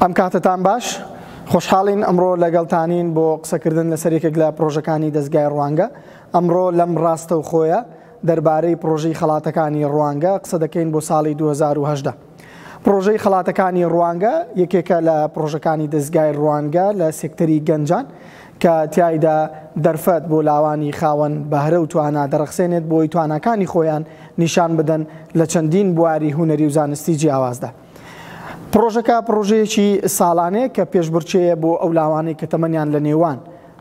ئەم کاتتان باش خۆشحاڵین ئەمڕۆ لەگەڵتانین بۆ قسەکردن لەسەر یەکێک لە پرۆژەکانی دەستگای ڕوانگە ئەمڕۆ لەم ڕاستە و خۆیە دەربارەی پرۆژەی خەڵاتەکانی ڕوانگە قسە دەکەین بۆ ساڵی 2010. پڕۆژەی خەڵاتەکانی ڕوانگە یەکێکە لە پڕۆژەکانی دەزگای ڕوانگە لە سێکتەری گەنجان کە تیایدا دەرفەت بۆ لاوانی خاوەن بەهرە و توانا دەڕەخسێنێت بۆی تواناکانی خۆیان نیشان بدەن لە چەندین بواری هونەری و زانستی جیاوازدا. پڕۆژەکە پڕۆژەیەکی ساڵانەیە کە پێشبڕکێیە بۆ ئەو لاوانەی کە تەمەنیان لە نێوان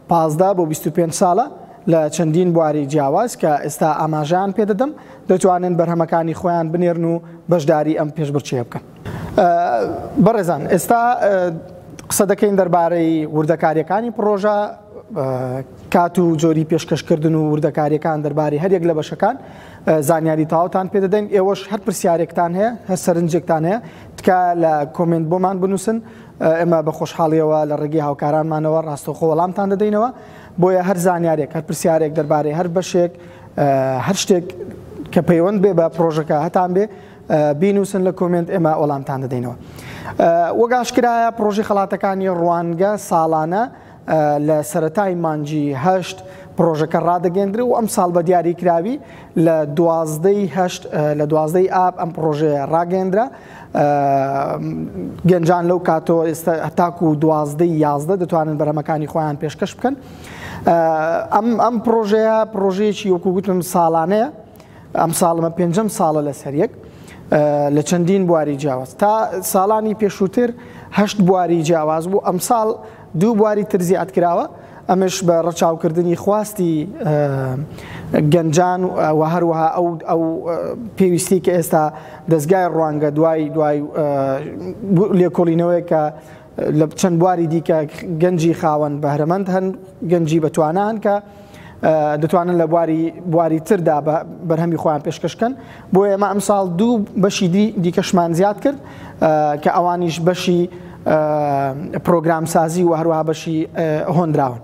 پازدە بۆ بیست و پێنج ساڵە لە چەندین بواری جیاواز کە ئێستا ئاماژەیان پێ دەدەم، دەتوانن بەرهەمەکانی خۆیان بنێرن و بەشداری ئەم پێشبڕکێیە بکەن. بەڕێزان ئێستا قسە دەکەین دەربارەی وردەکارییەکانی پڕۆژە، کات و جۆری پێشکەشکردن و وردەکارییەکان دەربارەی هەریەک لە بەشەکان زانیاری تەواوتان پێ دەدەین، ئێوەش هەر پرسیارێکتان هەیە، هەر سەرنجێکتان هەیە تکایە لە کۆمێنت بۆمان بنووسن، ئێمە بە خۆشحاڵیەوە لە ڕێگەی هاوکارانمانەوە ڕاستەوخۆ وەڵامتان دەدەینەوە بۆیە هەر زانیارێک هەر پرسیارێک دەربارەی هەر بەشێک هەر شتێک کە پەیوەند بێ بە پرۆژەکە هەتان بێ بینوسن لە کۆمنت ئێمە وەڵامتان دەدەینەوە وەگاشکرایە پرۆژی خڵاتەکانی ڕوانگە ساڵانە لە سەرەتای مانگی هەشت پڕۆژەکە ڕادەگەندرێ و ئەمساڵ بە دیاریکراوی لە دوازدەی هەشت لە دوازدەی ئاب ئەم پڕۆژەیە ڕاگەندرا گەنجان لەو کاتەوە ئێستا هەتاکو و دوازدەی یازدە دەتوانن بەرەمەکانی خۆیان پێشکەش بکەن ئەم ئەم پرۆژەیە پرۆژەیەکی وەکوگوتم ساڵانەیە ئەم ساڵمە پێنجەم ساڵە لەسەر یەک لە چەندین بواری جیاواز تا ساڵانی پێشووتر هەشت بواری جیاواز بوو ئەمساڵ دوو بواری تر زیاد کراوە، ئەمەش بە ڕەچاوکردنی خواستی گەنجان و هەروەها ئەو پێویستیەی کە ئێستا دەزگای ڕوانگە دوای دوای لێکۆڵینەوەیەک کە لە چەند بواری دیکە گەنجی خاوەن بەهرەمەند هەن گەنجی بەتوانان کە دەتوانن لە بواری بواری تردا بە بەرهەمی خۆیان پێشکەشکەن بۆ ئێمە ئەم ساڵ دوو بەشی دی دیکەشمان زیاد کرد کە ئەوانیش بەشی پرۆگرام سازی و هەروها بەشی هۆنراون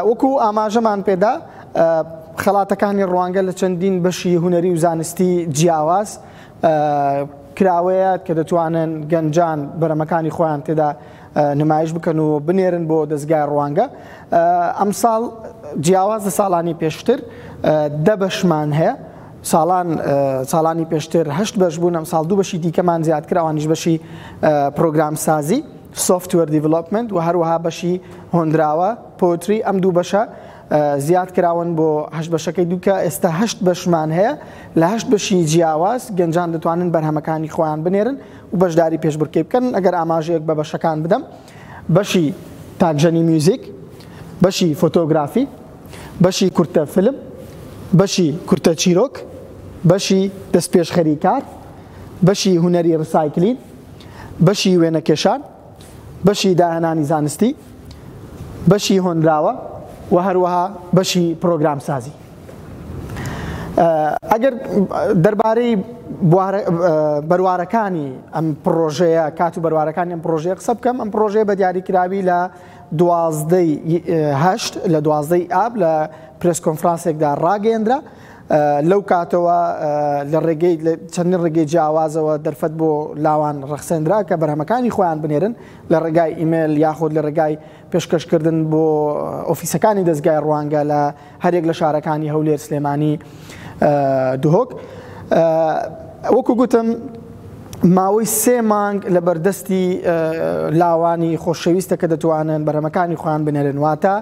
وەکو ئاماژەمان پێدا خەڵاتەکانی ڕوانگە لە چەندین بەشی هوەری و زانستی جیاواز کراوەیە کە دەتوانن گەنجان بەرەمەکانی خۆیان تێدا نمایش بکەن و بنێرن بۆ دەزگای ڕوانگە ئەمساڵ جیاواز لە ساڵانی پێشتر دە بەشمان هەیە ساڵان ساڵانی پێشتر هەشت بەش بوون ئەم ساڵ دوو بەشی دیکەمان زیادکرا ئەوانیش بەشی پرۆگرام سازی سوفتوەر دیڤلوپمنت و هەروەها بەشی هۆندراوە پۆتری ئەم دوو بەشە زیاد کراون بۆ هەشت بەشەکەی دووکە ئێستا هەشت بەشمان هەیە لە هەشت بەشی جیاواز گەنجان دەتوانن بەرهەمەکانی خۆیان بنێرن و بەشداری پێشبڕکێی بکەن ئەگەر ئاماژەیەک بە بەشەکان بدەم بەشی تاکژەنی میوزیک بەشی فۆتۆگرافی بەشی کورتە فلم بەشی کورتە چیرۆک بەشی دەستپێشخەری کار بەشی هونەری ڕسایکلین بەشی وێنەکێشان بەشی داهێنانی زانستی بەشی هۆنراوە و هەروەها بەشی پرۆگرام سازی ئەگەر دەربارەی بەروارەکانی ئەم پڕۆژەیە کات و بەروارەکانی ئەم پڕۆژەیە قسە بکەم ئەم پڕۆژەیە بە دیاریکراوی لە دوازدەی هەشت لە دوازدەی ئاب لە پرس کۆنفرانسێکدا ڕاگەندرا لەو کاتەوە لە ڕێگەی چەندین ڕێگەی جیاوازەوە دەرفەت بۆ لاوان ڕەخسێنرا کە بەرهەمەکانی خۆیان بنێرن لە ڕێگای ئیمێل یاخود لە ڕێگای پێشکەشکردن بۆ ئۆفیسەکانی دەزگای ڕوانگە لە هەرێک لە شارەکانی هەولێر سلێمانی دهۆک وەکو گوتم ماوەی سێ مانگ لە بەردەستی لاوانی خۆشەویستە کە دەتوانن بەرهەمەکانی خۆیان بنێرن واتە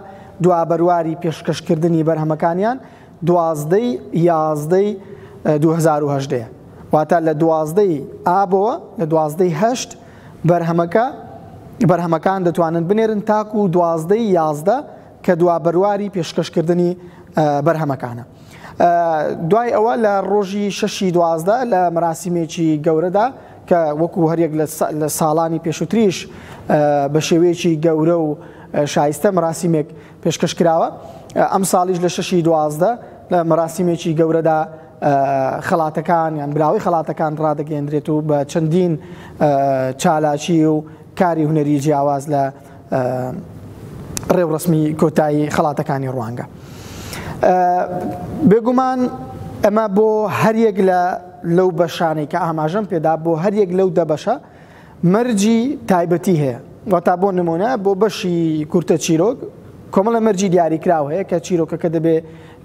دوا بەرواری پێشکەشکردنی بەرهەمەکانیان دوازدەی یازدەی 2010 واتە لە دوازدەی ئابەوە لە دوازدەی هەشت بەرهەمەکە بەرهەمەکان دەتوانن بنێرن تاکو و دوازدە یازدە کە دوا بەرواری پێشکەشکردنی بەرهەمەکانە دوای ئەوە لە ڕۆژی شەشی دوازدە لە مەراسیمێکی گەورەدا کە وەکو هەریەک لە ساڵانی پێشوتریش بە شێوەیەکی گەورە و شایستە مەراسیمێک پێشکەش کراوە ئەم ساڵیش لە شەشی دوازدە لە مەراسیمێکی گەورەدا خەڵاتەکان یان براوەی خەڵاتەکان ڕادەگەێندرێت و بە چەندین چالاکی و کاری هوەری جیاواز لە ڕێوڕسمی کۆتایی خەڵاتەکانی ڕوانگە بێگومان ئەمە بۆ هەریەک لە لەو بەشانەی کە ئاماژەم پێدا بۆ هەریەک لەو دەبەشە مەرجی تایبەتی هەیە واتا بۆ نمونە بۆ بەشی کورتە چیرۆک کۆمەڵە مەرجی دیاریکراو هەیە کە چیرۆکەکە دەبێ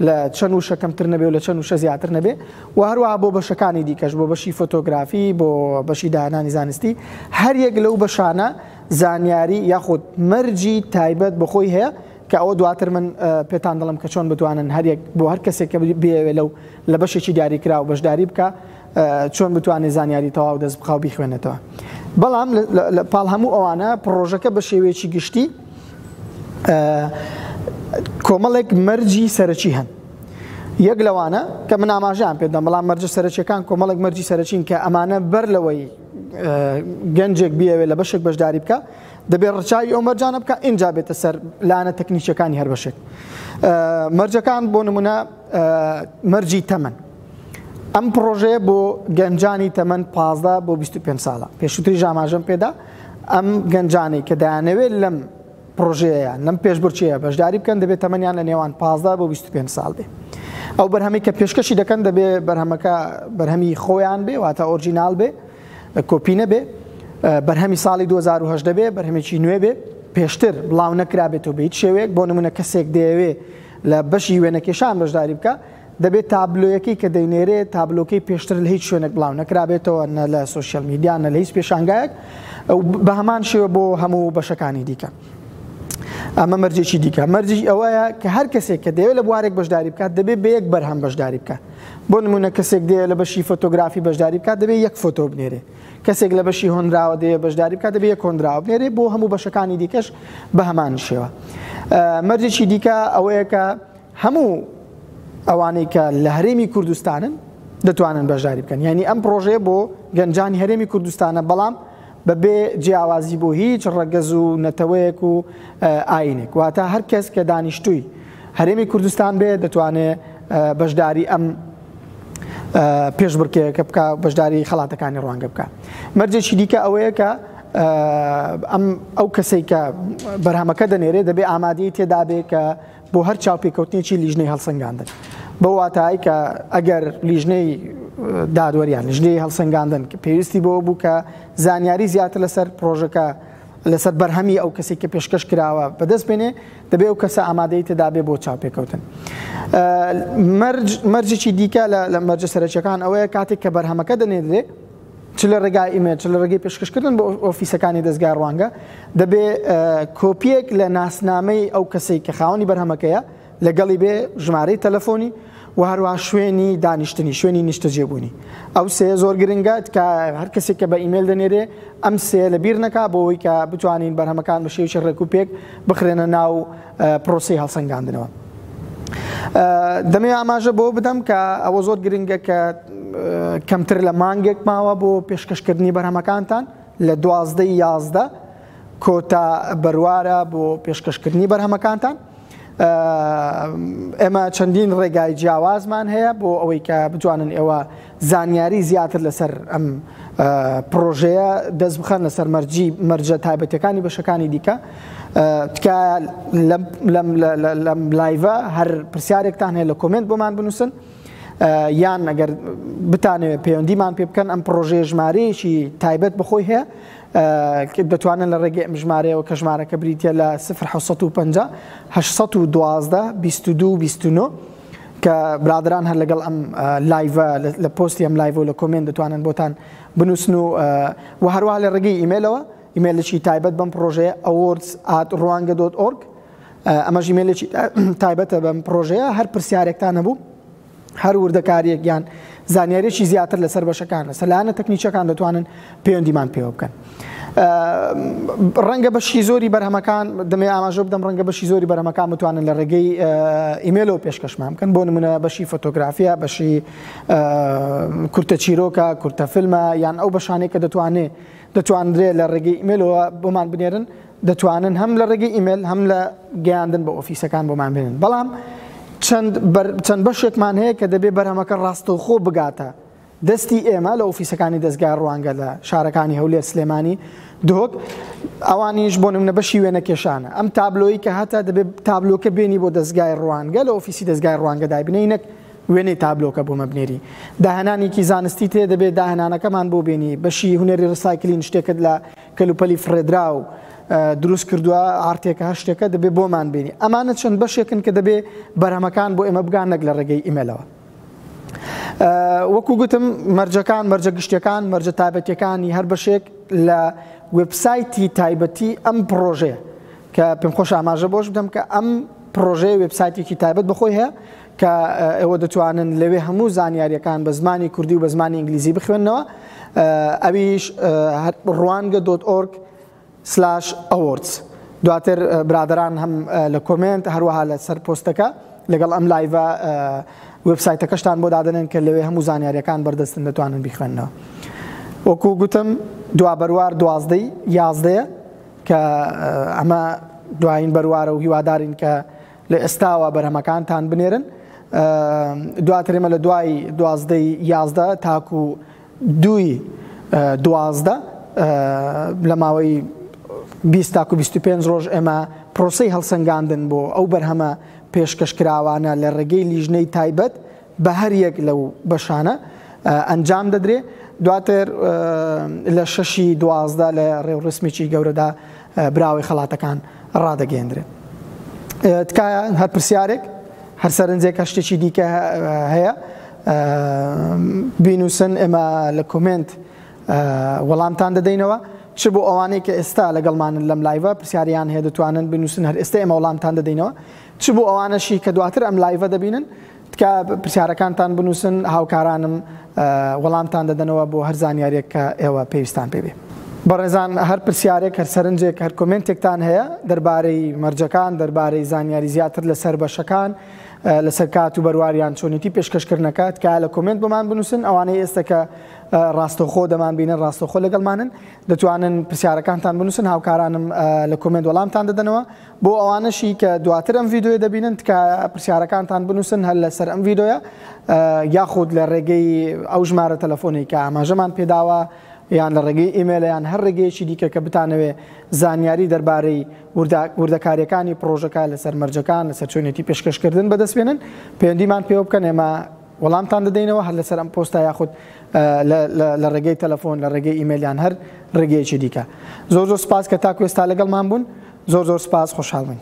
لە چەند وشە کەمتر نەبێ و لە چەند وشە زیاتر نەبێ و هەروەها بۆ بەشەکانی دیکەش بۆ بەشی فۆتۆگرافی بۆ بەشی داهێنانی زانستی هەر یەک لەو بەشانە زانیاری یاخود مەرجی تایبەت بەخۆی هەیە کە ئەوە دواتر من پێتان دەڵم کە چۆن بتوانن هەریەک بۆ هەر کەسێک کە بێوێ لەو لە بەشێکی دیاریکراوە بەشداری بکە چۆن بتوانێت زانیاری تەواو دەست بخاو بیخوێنێتەوە بەڵام پاڵ هەموو ئەوانە پرۆژەکە بە شێوەیەکی گشتی کۆمەڵێک مەرجی سەرەکی هەن یەک لەوانە کە من ئاماژان پێدەم بەڵام مەرجە سەرچەکان کۆمەڵێک مەرجی سەرچین کە ئەمانە بەر لەوەی گەنجێک بیاوێت لە بەشێک بەشداری بکە دەبێت ڕچوی ئەو مەرجانە بکە ئینجا بێتە سەر لاەنە تەکنیکەکانی هەر بەشێک مەرجەکان بۆ نمونە مەرجی تەمەن ئەم پڕۆژەیە بۆ گەنجانی تەمەن پازدە بۆ 25 ساڵە پێشوتری ژاماژەم پێدا ئەم گەنجانی کە دەیانەوێت لەم پرۆژەیە لەم پێشبرچەیە بەشداری بکەن دەبێت تەمەنیان لە نێوان 15 بۆ 25 ساڵ بێ ئەو بەرهەمی کە پێشکەشی دەکەن دەبێ بەرهەمەکە بەرهەمی خۆیان بێ واتە ئۆرجینال بێ کۆپی نەبێ بەرهەمی ساڵی 2010 دەبێ بەرهەمێکی نوێ بێ پێشتر بڵاو نەکرابێتەوە بە هیچ شێوەیەک بۆ نمونە کەسێک دەیەوێ لە بەشی وێنەکێشان بەشداری بکە دەبێت تابلۆیەکەی کە دەینێرێت تابلۆکەی پێشتر لە هیچ شوێنێک بڵاو نەکرابێتەوە نە لە سوسیال میدیان نە لە هیچ پێشانگایەک بە هەمان شێوە بۆ هەموو بەشەکانی دیکە. ئەمە مەرجێکی دیکە مەرجی ئەوەیە کە هەر کەسێک کە دەوێت لە بوارێک بەشداری بکات دەبێت بە یەک بەرهەم بەشداری بکات بۆ نمونە کەسێک دێ لە بەشی فۆتۆگرافی بەشداری بکات دەبێت یەک فۆتۆ بنێرێ کەسێک لە بەشی هۆنراوە دێ بەشداری بکات دەبێت یەک هۆنراوە بنێرێ بۆ هەموو بەشەکانی دیکەش بە هەمان شێوە مەرجێکی دیکە ئەوەیە کە هەموو ئەوانەی کە لە هەرێمی کوردستانن دەتوانن بەشداری بکەن یانی ئەم پرۆژەیە بۆ گەنجانی هەرێمی کوردستانە بەڵام بەبێ جیاوازی بۆ هیچ ڕەگەز و نەتەوەیەک و ئاینێک واتە هەر کەس کە دانیشتووی هەرێمی کوردستان بێ دەتوانێ بەشداری ئەم پێشبڕکێەکە بکە بەشداری خەڵاتەکانی ڕوانگە بکە مەرجێکی دیکە ئەوەیە کە ئەم ئەو کەسێک کە بەرهەمەکە دەنێرێ دەبێ ئامادەی تێدابێ کە بۆ هەر چاوپێکەوتنێکی لیژنەی هەڵسەنگاندن بەو واتای کە ئەگەر لیژنەی دادوەریان لیژنەی هەڵسەنگاندن کە پێویستی بۆ بوو کە زانیاری زیاتر لەسەر پرۆژەکە لەسەر بەرهەمی ئەو کەسی کە پێشکەش کراوە بەدەست بێنێ دەبێ و کەسە ئامادەی تدابێ بۆ چاوپێکەوتن مەرجێکی دیکە لە مەرجە سەرچەکان ئەوەیە کاتێک کە بەرهەمەکە دەنێدرێ چ لە ڕێگای ئیمێل چ لە ڕێگەی پێشکەشکردن بۆ ئۆفیسەکانی دەزگای ڕوانگە دەبێ کۆپیەک لە ناسنامەی ئەو کەسەی کە خاوەنی بەرهەمەکەیە لەگەڵی بێ ژمارەی تەلەفۆنی و هەروە شوێنی دانیشتنی شوێنی نیشتەجێبوونی ئەو سێ زۆر گرنگە کە هەر کەسێک کە بە ئیمێل دەنێرێ ئەم سێ لە بیر نەکا بۆەوەی کە بتوانین بەرهەمەکان بە شێوی ڕێک و پێک بخرێنە ناو پرۆسەی هەڵسەنگاندنەوە. دەمەوێت ئاماژە بەوە بدەم کە ئەوە زۆر گرنگە کە کەمتر لە مانگێک ماوە بۆ پێشکەشکردنی بەرهەمەکانتان لە دوازدە یازدە کۆتا بەروارە بۆ پێشکەشکردنی بەرهەمەکانتان. ئێمە چەندین ڕێگای جیاوازمان هەیە بۆ ئەوەی کە بتوانن ئێوە زانیاری زیاتر لەسەر ئەم پڕۆژەیە دەست بخەن لەسەر مەرجی مەرجە تایبەتەکانی بەشەکانی دیکە تکایە لەم لایڤە هەر پرسیارێکتان هەیە لە کۆمنت بۆمان بنووسن یان ئەگەر بتانەوێت پەیوەندیمان پێ بکەن ئەم پرۆژێ ژمارەیەکی تایبەت بخۆی هەیە دەتوانن لە ڕێگەی ئەم ژمارەیەوە کە ژمارەکە بریتە لە 1950 1920 22 29 کە برادەران هەر لەگەڵ ئەم لایڤە لە پۆستی ئەم لایڤ و لە کۆمێن دەتوانن بۆتان بنووسن و و هەروە لە ڕگەی ئیمێلەوە ئیمێلێکی تایبەت بەم پرۆژەیە ئەوۆرس ئات ڕوانگە دۆت ئۆرگ ئەمە ژیمێلێکی تایبەتە بەم پرۆژەیە هەر پرسیارێکتان نەبوو هەر وردەکاریەک یان زانیارێکی زیاتر لەسەر بەشەکان لەسەر لاەنە تەکنیچەکان دەتوانن پەیوەندیمان پێوە بکەن. ڕەنگە بەشی زۆری بەرهەمەکان دەمێ ئاماژە بدەم ڕەنگە بەشی زۆری بەرهەمەکان بتوانن لە ڕێگەی ئیمێلەوە پێشکەشمان بکەن بۆ نمونە بەشی فۆتۆگرافیا بەشی کورتە چیرۆکە کورتە فیلمە یان ئەو بەشانێک کە دەتوانێت دەتواندرێت لە ڕێگەی ئیمێلەوە بۆمان بنێرن دەتوانن هەم لە ڕێگەی ئیمێل هەم لە گەیاندن بە ئۆفیسەکان بۆمان بێنن بەڵام چەند بەشێکمان هەیە کە دەبێ بەرهەمەکە ڕاستەوخۆ بگاتە دەستی ئێمە لە ئۆفیسەکانی دەزگای ڕوانگە لە شارەکانی هەولێر سلێمانی دهۆک ئەوانیش بۆ نمونە بەشی وێنەکێشانە ئەم تابلۆی کە هاتە دەبێت تابلۆکە بێنی بۆ دەستگای ڕوانگە لە ئۆفیسی دەستگای ڕوانگە دابنەی نەک وێنەی تابلۆکە بۆ مەبنێری داهێنانێکی زانستی تێ دەبێت داهێنانەکەمان بۆ بینی بەشی هوەری ڕسایکلین شتێکت لە کەلوپەلی فڕێدرا و دروست کردووە ئارتێکە هەر شتێکە دەبێت بۆمان بینی ئەمانە چەند بەشێکن کە دەبێت بەرهەمەکان بۆ ئێمە بگان نەک لە ڕێگەی ئیمەلەوە وەکو گوتم مەرجەکان مەرجە گشتەکان مەرجە تابەتەکانی هەر بەشێک لە وبسایتی تایبەتی ئەم پرۆژەیە کە پێم خۆش ئاماژە بۆش بدەم کە ئەم پرۆژەیە وبسایتێکی تایبەت بەخۆی هەیە کە ئێوە دەتوانن لەوێ هەموو زانیاریەکان بە زمانی کوردی و بە زمانی ئینگلیزی بخوێندنەوە ئەویش ڕوانگە دۆت ئۆرگ سلاش ئەوۆردس دواتر برادەران هەم لە کۆمێنت هەروەها لە سەر پۆستەکە لەگەڵ ئەم لایڤە وێب سایتەکەشتان بۆ دادەنێن کە لەوێ هەموو زانیاریەکان بەردەستن دەتوانن بیخوێنەوە وەکو گوتم دوا بەروار دوازدەی یازدەیە کە ئەمە دوایین بەروارە و هیوادارین کە لە ئێستاوە بەرهەمەکانتان بنێرن دواترێمە لە دوای دوازدەی یازدە تاکو دووی دوازدە، لە ماوەی بیست تاکو بیست و پێنج ڕۆژ ئێمە پرۆسەی هەڵسەنگاندن بۆ ئەو بەرهەمە پێشکەشکراوانە لە ڕێگەی لیژنەی تایبەت بە هەر یەک لەو بەشانە ئەنجام دەدرێ، دواتر لە شەشی دوازدە لە ڕێوڕسمێکی گەورەدا براوەی خەڵاتەکان ڕادەگەیەندرێن. تکایە هەر پرسیارێک، هەر سەرنجێک، هەر شتێکی دیکە هەیە بینوسن ئێمە لە کۆمێنت وەڵامتان دەدەینەوە چ بۆ ئەوانەی کە ئێستا لەگەڵمانن لەم لایڤە پرسیاریان هەیە دەتوانن بنووسن هەر ئێستا ئێمە وەڵامتان دەدەینەوە چ بۆ ئەوانەشی کە دواتر ئەم لایڤە دەبینن تکا پرسیارەکانتان بنووسن هاوکارانم وەڵامتان دەدەنەوە بۆ هەر زانیاریێک کە ئێوە پێویستان پێبێ. بەڕێزان هەر پرسیارێک هەر سەرنجێک هەر کۆمنتێکتان هەیە دەربارەی مەرجەکان دەربارەی زانیاری زیاتر لەسەر بەشەکان لەسەر کات و بەرواریان چۆنیتی پێشکەشکردنەکە تکایە لە کۆمنت بۆمان بنووسن ئەوانەی ئێستا کە ڕاستەخۆ دەمان بینە ڕاستەخۆ لەگەڵمانن دەتوانن پرسیارەکانتان بنووسن هاوکارانم لە کۆمنت وەڵامتان دەدەنەوە بۆ ئەوانەشی کە دواتر ئەم یددیوە دەبینن تکە پرسیارەکانتان بنووسن هەر لەسەر ئەم یددیوە یاخود لە ڕێگەی ئەو ژمارە تەلەفۆنی کە ئاماژەمان پێداوە یان لە ڕێگەی ئیممەلیان هەر ڕێگەیەکی دیکە کە بتانەوێ زانیاری دەربارەی وردەکارییەکانی پڕۆژەکە لەسەر مەرجەکان، لەسەر چۆنیەتی پێشکەشکردن بەدەست بێنن، پەیوەندیمان پێوە بکەن ئێمە وەڵامتان دەدەینەوە هەر لەسەر ئەم پۆستە یاخود لە ڕێگەی تەلەفۆن، لە ڕێگەی ئیمەیل یان هەر ڕێگەیەکی دیکە. زۆر زۆر سپاس کە تاکو ئێستا لەگەڵمان بوون. زۆر زۆر سپاس، خۆشحاڵ بووین.